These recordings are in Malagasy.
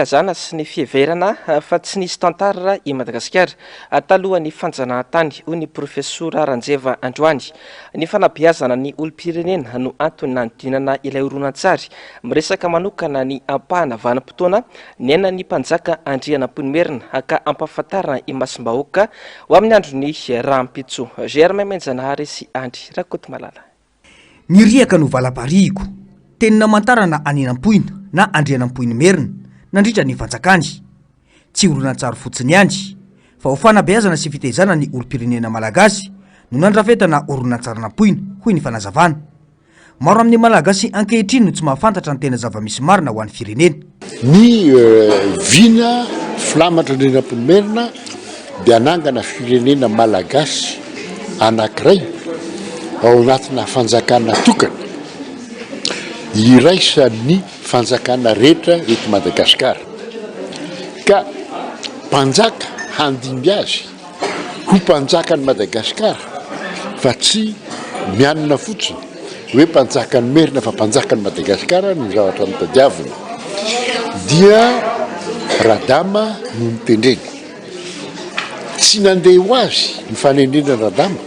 filazana sy ny fiheverana fa tsy nisy tantara i Madagasikara talohan'ny fanjanahantany, hoy ny Profesora Ranjeva androany. Ny fanabeazana ny olom-pirenena no antony nanodinana ilay horonantsary miresaka manokana ny ampahana vanim-potoana niainan'ny Mpanjaka Andrianampoinimerina ka ampahafantarina imasom-bahoaka ho amin'ny andron'ny rahampitso. Germain Menjanahary sy Andry Rakotomalala. Ny riaka no valam-parihiko. Teny namantarana an' Inampoina na Andrianampoinimerina nandritra ny fanjakany. Tsy horonantsary fotsiny ihany, fa ho fanabeazana sy fitaizana ny olom-pirenena malagasy no nandrafetana horonantsarin'Ampoina, hoy ny fanazavana. Maro amin'ny Malagasy ankehitriny no tsy mahafantatra ny tena zava-misy marina ho an'ny firenena. Ny vina filamatra Andrianampoinimerina dia hanangana firenena malagasy anankiray ao anatina fanjakana tokana iraisan'ny fanjakana rehetra eto Madagasikara ka mpanjaka handimby azy. ho mpanjakan'i Madagascar fa tsy mianina fotsiny hoe mpanjakan'i Merina fa mpanjakan'i Madagascar no zavatra notadiaviny dia Radama no nitendreny tsy nandeha ho azy ny fanendrena Radama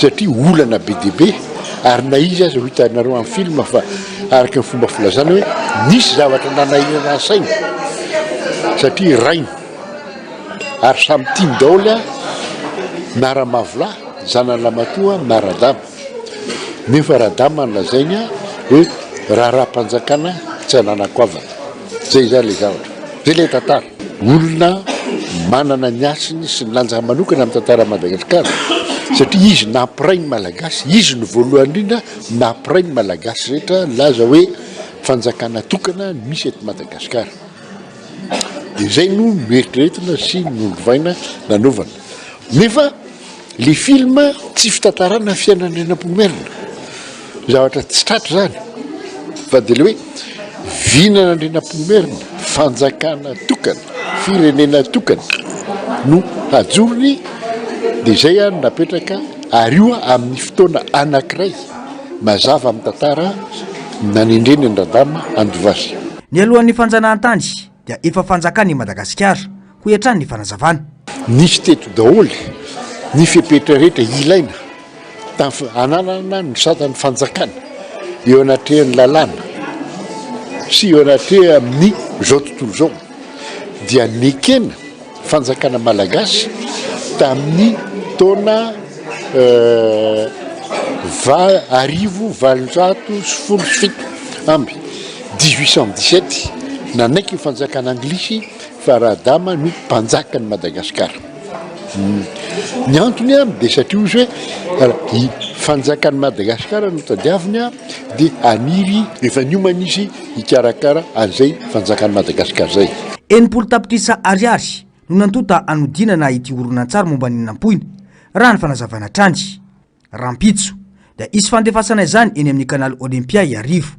satria olana be dia be ary na izy aza ho hitanareo amin'ny film fa araka ny fomba filazana hoe nisy zavatra nanahirana ny sainy satria rainy ary samy tiany daholo a na ramavolahy zanany ramatoa na radama nefa radama ny lazainy a hoe raharaha-panjakana tsy ananako havana Zay zany le zavatra. Zay le tantara. Olona manana ny hasiny sy ny lanjany manokana amin'ny tantaran'i Madagasikara satria izy nampiray ny Malagasy, izy no voalohany indrindra nampiray ny Malagasy rehetra nilaza hoe fanjakana tokana no misy eto Madagasikara. Dia zay no noeritreretina sy nolovaina nanaovana. Nefa Le film tsy fitantarana fiainan'i Andrianampoinimerina, zavatra tsy tratra zany fa de le hoe vinana Andrianampoinimerina, fanjakana tokana, firenena tokana no hajorony de zay a no napetraka ary io amin'ny fotoana anakiray mazava amin'ny tantara nanendreny an-dRadama Andovasy. Nialohan'ny fanjanahantany. dia efa fanjakan' i Madagasikara, hoy hatrany ny fanazavana. Nisy teto daholo ny fepetra rehetra ilaina tamin'ny hananana ny satan'ny fanjakana eo anatrehan'ny lalàna sy eo anatrehan'ny izao tontolo izao dia nekena Fanjakana Malagasy tamin'ny taona arivo valonjato sy folo sy fito amby, dix huit cent dix sept, nanaiky ny fanjakana anglisy fa Radama no mpanjaka an'i Madagasikara. Ny antony dia satria ozy hoe fanjakan'i Madagasikara no tadiaviny dia haniry rehefa niomana izy hikarakara an'izay fanjakan'i Madagasikara izay. Enimpolo tapitrisa ariary no nantonta hanodinana ity horonantsary momba ny nampoina, raha ny fanazavana hatrany. Rahampitso, dia hisy fandefasana izany eny amin'ny Canal Olympia Iarivo.